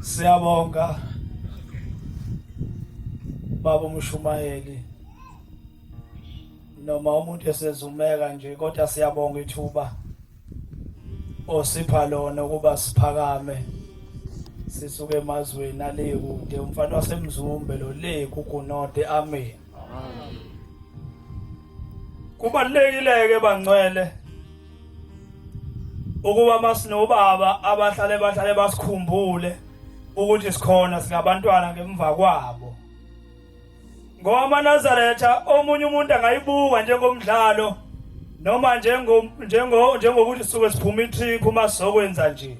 Siyabonga baba umshumayeli noma umuntu esezumeka nje kodwa siyabonga ithuba osipha lona ukuba siphakame sisuke emazweni ale kude umfana wasemzumbe lo le kugunode amen kubalekile ke bangcwele ukuba masinobaba abahlale bahlale basikhumbule ukuthi sikhona singabantwana ngemva kwabo ngoba amanazaretha omunye umuntu angayibuka njengomdlalo noma njengo njengo njengokuthi suke siphuma itrip uma sizokwenza nje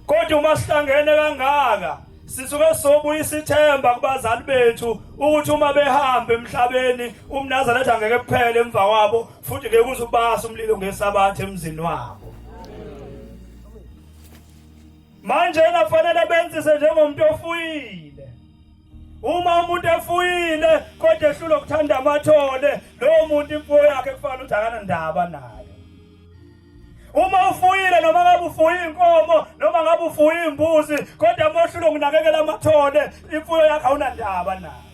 kodwa uma sihlangene kangaka sisuke sobuyisa ithemba kubazali bethu ukuthi uma behamba emhlabeni umnazana ethi angeke kuphele emva kwabo futhi ngeke uze ubasa umlilo ngesabatha emzini wabo manje nafanele benzise njengomuntu ofuyile uma umuntu efuyile kodwa ehlula ukuthanda amathole lowo muntu imfuyo yakhe kufanele ukuthi akanandaba naye Uma ufuyile noma ngabe ufuye inkomo noma ngabe ufuye imbuzi kodwa moshilo nginakekela amathole imfuyo yakho awunandaba nayo.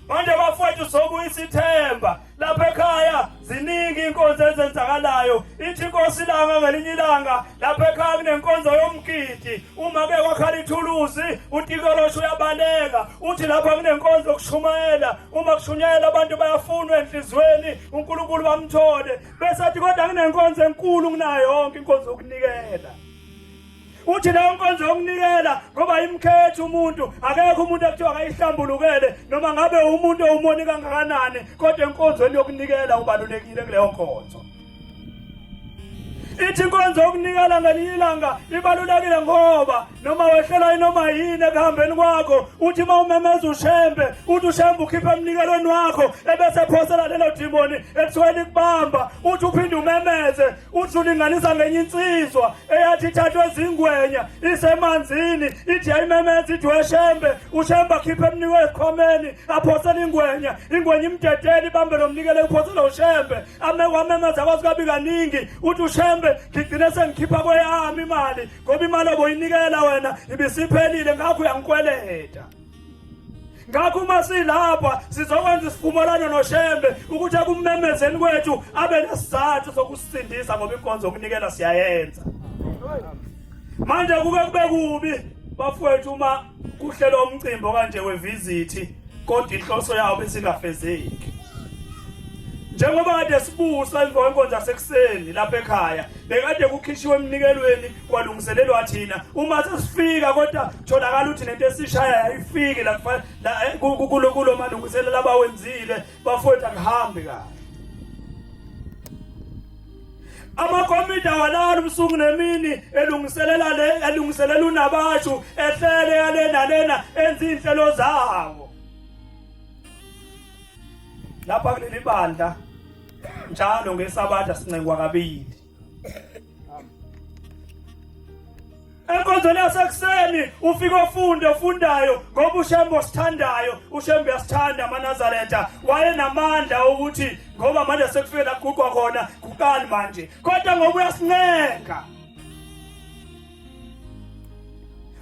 Manje bafowethu sokuyisa ithemba lapha ekhaya ziningi inkonzo ezenzakalayo ithi inkosi ilanga ngelinye ilanga lapha ekhaya kunenkonzo yomgidi uma ke kwakhala ithuluzi utikolosho uyabaleka uthi lapha kunenkonzo yokushumayela uma kushunyayela abantu bayafunwa enhlizweni uNkulunkulu bamthole Bese athi kodwa nginenkonzo enkulu nginayo yonke inkonzo yokunikela. Uthi leyo nkonzo yokunikela ngoba imkhetha umuntu akekho umuntu ekuthiwa akayihlambulukele noma ngabe umuntu owumoni kangakanani kodwa enkonzweni yokunikela ubalulekile kuleyo nkonzo. Ithi inkonzo yokunikela ngelinye ilanga ibalulekile ngoba noma wehlelwa inoma yini ekuhambeni kwakho uthi uma umemeza ushembe uthi ushembe ukhiphe emnikelweni wakho ebese ephosela lelo dimoni ekuthiwa likubamba uthi uphinde umemeze uthi ulinganisa ngenye insizwa eyathi ithathwe ezingwenya isemanzini ithi yayimemeza ithi weshembe ushembe akhiphe emnikwe ezikhomeni aphosele ingwenya ingwenya imdedele ibambe lo mnikele uphosele ushembe amekwamemeza kwazi kabi kaningi uthi ushembe ngigcine sengikhipha kweyami imali ngoba imali oboyinikela wena ibisiphelile ngakho uyangikweleta ngakho uma silapha sizokwenza isivumelwano noshembe ukuthi ekummemezeni kwethu abe nesizathu sokusisindisa ngoba inkonzo yokunikela siyayenza manje kuke kube kubi bafowethu uma kuhlelwa umcimbi okanje wevizithi kodwa inhloso yawo besingafezeki njengoba kade sibusa emva kwenkonzo yasekuseni lapha ekhaya bekade kukhishiwe emnikelweni kwalungiselelwa thina uma sesifika kodwa tholakala ukuthi nento esishaya yayifiki la eh, kulo kulo malungiselela abawenzile bafowethu akuhambi kahle amakomiti awalala ubusuku nemini elungiselela le elungiselela unabashu ehlele yalena lena enza inhlelo zawo lapha kuleli bandla njalo ngesabatha sincengwa kabili enkonzweni yasekuseni ufike ofunde ofundayo ngoba ushembe osithandayo ushembe uyasithanda amanazaretha wayenamandla okuthi ngoba manje sekufike laguqwa khona kuqani manje kodwa ngoba uyasincenga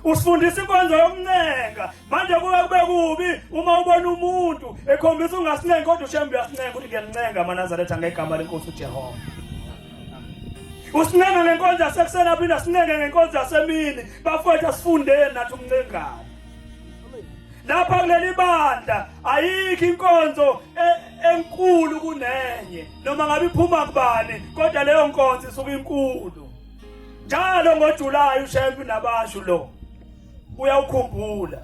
usifundisa inkonzo yokuncenga manje kuke kube kubi uma ubona umuntu ekhombisa ungasincengi kodwa ushembe uyasincenga ukuthi ngiyancenga amanazaretha ngegama lenkosi ujehova usincenga ngenkonzo yasekuseni aphinde asincenga ngenkonzo yasemini bafowethu asifundeni nathi umncengane lapha kuleli bandla ayikho inkonzo e- enkulu kunenye noma ngabe iphuma kubani kodwa leyo nkonzo isuke inkulu Njalo ngoJulayi uShembe unabashu lo. Uyawukhumbula.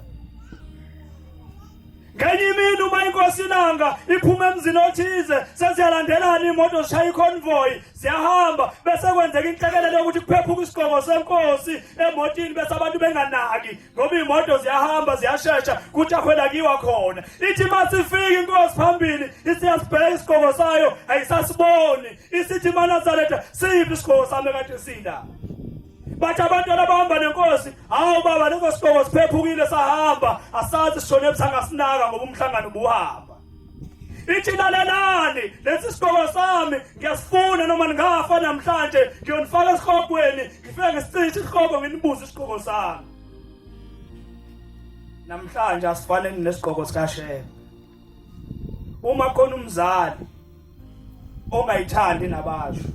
Ngenye imini uma inkosi ilanga iphuma emzini othize seziyalandelana imoto zishaya iconvoy ziyahamba bese kwenzeka inhlekelele yokuthi kuphephuka isigqoko senkosi emotini bese abantu benganaki ngoba iy'moto ziyahamba ziyashesha kuthi akhwelakiwa khona ithi uma sifika inkosi phambili isiyasibheka isigqoko sayo ayisasiboni isithi imanazaretha siyiphi isigqoko sami kade sinda bathi abantu abahamba nenkosi hawu baba leso sigqoko siphephukile sahamba asazi sishone ebuthanga sinaka ngoba umhlangano ubuhamba ithi lalelani lesi sigqoko sami ngiyasifuna noma ningafa namhlanje ngiyonifaka esihlogweni ngifike ngisicishe isihloko nginibuze isigqoko sami namhlanje asifaneni nesigqoko sikashebe uma khona umzali ongayithandi nabasho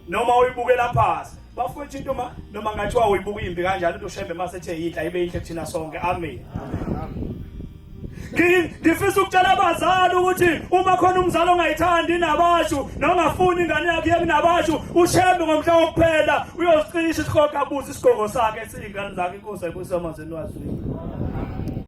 noma uyibukela phansi bafowethu into ma noma ngathiwa uyibuka imbi kanjalo into shembe mase ethe yidla ibe inhle kuthina sonke amen ngifisa ukutshela abazali ukuthi uma khona umzali ongayithandi nabashu nongafuni ingane yakhe yeke nabashu ushembe ngomhla wokuphela uyozicisha isihoga abuze isigongo sakhe esiyingane zakhe inkosi ayibusisa amazini wazwini